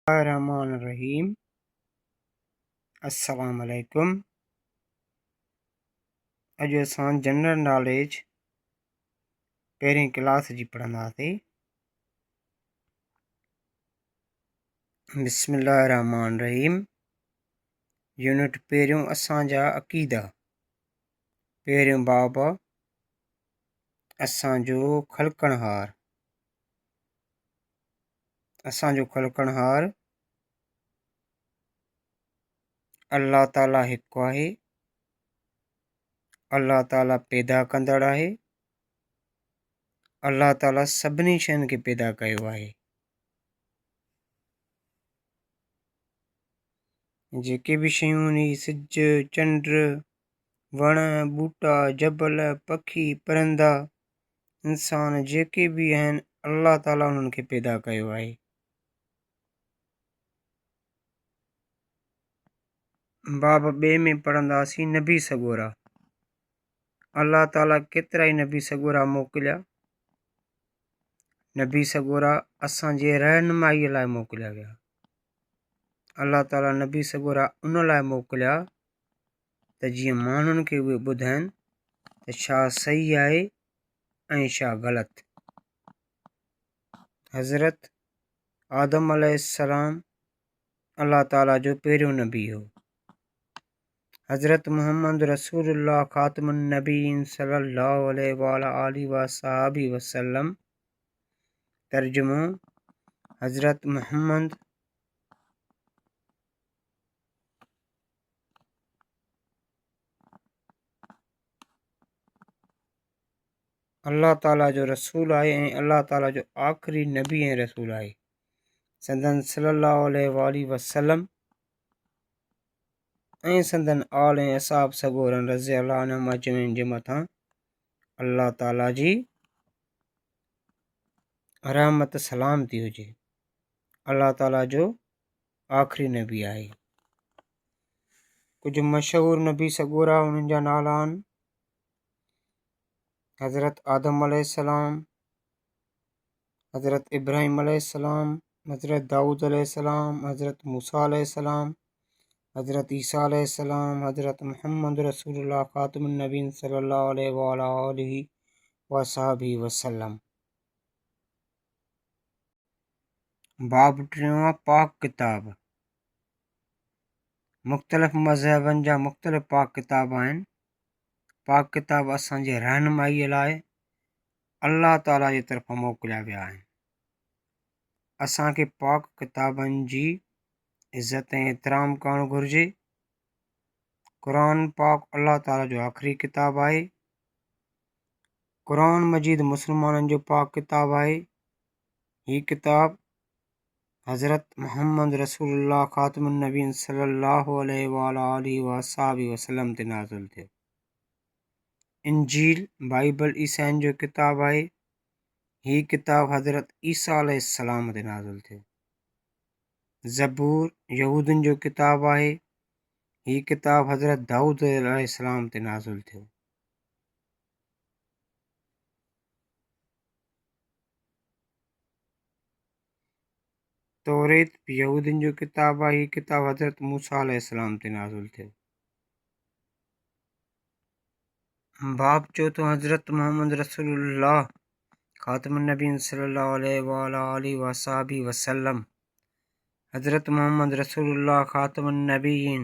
الله الرحمٰن الرحيم السلام عليڪم اڄ اسان جنرل ناليج پهرين ڪلاس جي پڙهنداسي بسم الله الرحمٰن الرحيم يونٽ پهريون اسان جا عقيدا پهريون باب اسان جو خلقڻهار اسان جو خلقڻهار الله تعاليٰ هڪ آهي الله تعاليٰ پيدا ڪندڙ آهي الله تعاليٰ سڀني شين کي پيدا ڪيو آهي جيڪي به شيون هن جي سج چنڊ وڻ ٻوٽا جبل پکي پرندا انسان جيڪي به آهن الله تعاليٰ انهن کي پيدا ڪيو آهي باب ٻئي ۾ پڙهنداسين نبي سڳورا الله تعاليٰ ڪيترا ئي نبي سڳورا موڪليا نبي سڳورا اسانجي رهنمائي لاء موڪليا ويا الله تعاليٰ نبي سڳورا ان لاء موڪليا ته جيئن ماڻهن کي اهي ٻڌائين ته ڇا صحيح آهي ۽ ڇا غلط حضرت آدم عليه السلام الله تعاليٰ جو پهريون نبي هو حضرت محمد رسول الله خاتم النبين صلي الله عليه وعلى آله وصحابه وسلم ترجمو حضرت محمد الله تعالٰي جو رسول آهي ۽ الله تعالٰي جو آخري نبي ۽ رسول آهي سندن صلي الله عليه وآله وسلم ۽ سندن آل ۽ اصحاب سڳورن رضي الله عنهم اجمعين جي مٿان الله تعالٰي جي رحمت سلام ٿي هجي الله تعالٰي جو آخري نبي آهي. ڪجهه مشهور نبي سڳورا انهن جا نالا آهن حضرت آدم عليه السلام حضرت ابراهيم عليه السلام حضرت داؤد عليه السلام حضرت موسا عليه السلام حضرت عيسيٰ عليه السلام حضرت محمد رسول الله خاتم النبين صلي الله عليه وعلى آله وصحبه وسلم باب ٽيون پاڪ ڪتاب، مختلف مذهبن جا مختلف پاڪ ڪتاب آهن پاڪ ڪتاب اسانجي رهنمائي لاء الله تعاليٰ جي طرفان موڪليا ويا آهن اسانکي پاڪ ڪتابن جي عزت ۽ احترام ڪرڻ گهرجي قرآن پاڪ الله تعاليٰ جو آخري ڪتاب آهي قرآن مجيد مسلمانن جو پاڪ ڪتاب آهي. هي ڪتاب حضرت محمد رسول الله خاتم النبين صلي الله عليه وآله وصحبه وسلم تي نازل ٿيو انجيل بائبل عيسائين جو ڪتاب آهي هي ڪتاب حضرت عيسيٰ عليه السلام تي نازل ٿيو زبور يهودن جو ڪتاب آهي هي ڪتاب حضرت داؤد عليه السلام تي نازل ٿيو توريت به يهودين جو ڪتاب آهي هي ڪتاب حضرت موسيٰ عليه السلام تي نازل ٿيو باب چوٿو حضرت محمد رسول الله خاتم النبين صلي الله عليه وعلى آله وصحبه وسلم حضرت محمد رسول الله خاتم النبيين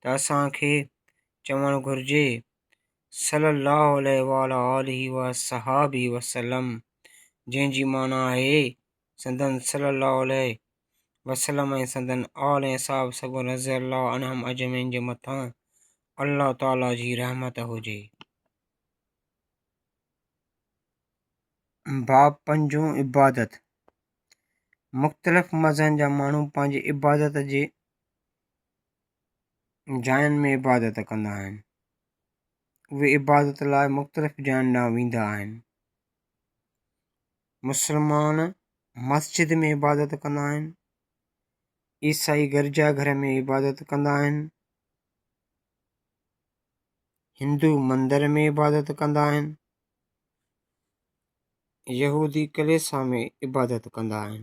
ته اسان کي چوڻ گهرجي صلّي اللّٰه عليه وعلٰي آله وصحٰبه وسلّم جنهن جي معنيٰ آهي سندن صلّي اللّٰه عليه وسلّم ۽ سندن آل ۽ اصحاب سگهو رضي اللّٰه عنهم اجمعين جي مٿان الله تعالٰي جي رحمت هجي. باب پنجون، عبادت، مختلف مذهن جا ماڻهو پنهنجي عبادت جي جاين ۾ عبادت ڪندا آهن. اهي عبادت لاء مختلف جاين ڏانهن ويندا آهن. مسلمان مسجد ۾ عبادت ڪندا آهن. عيسائي گرجا گهر ۾ عبادت ڪندا آهن. هندو مندر ۾ عبادت ڪندا آهن. يهودي ڪليسا ۾ عبادت ڪندا آهن.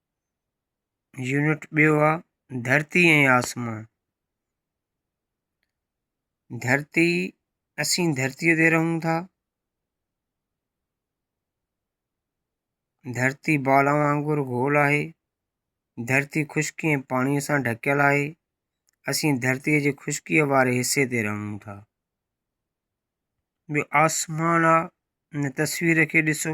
يونٽ ٻيو آ ڌرتي ۽ آسمان ڌرتي اسين ڌرتي تي رهون ٿا ڌرتي بال وانگر گول آهي ڌرتي خشڪي ۽ پاڻي سان ڍڪيل آهي اسين ڌرتي جي خشڪي واري حصي تي رهون ٿا ٻيو آسمان آ ان تصوير کي ڏسو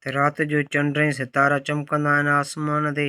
ته رات جو چنڊ ۽ ستارا چمڪندا آهن آسمان تي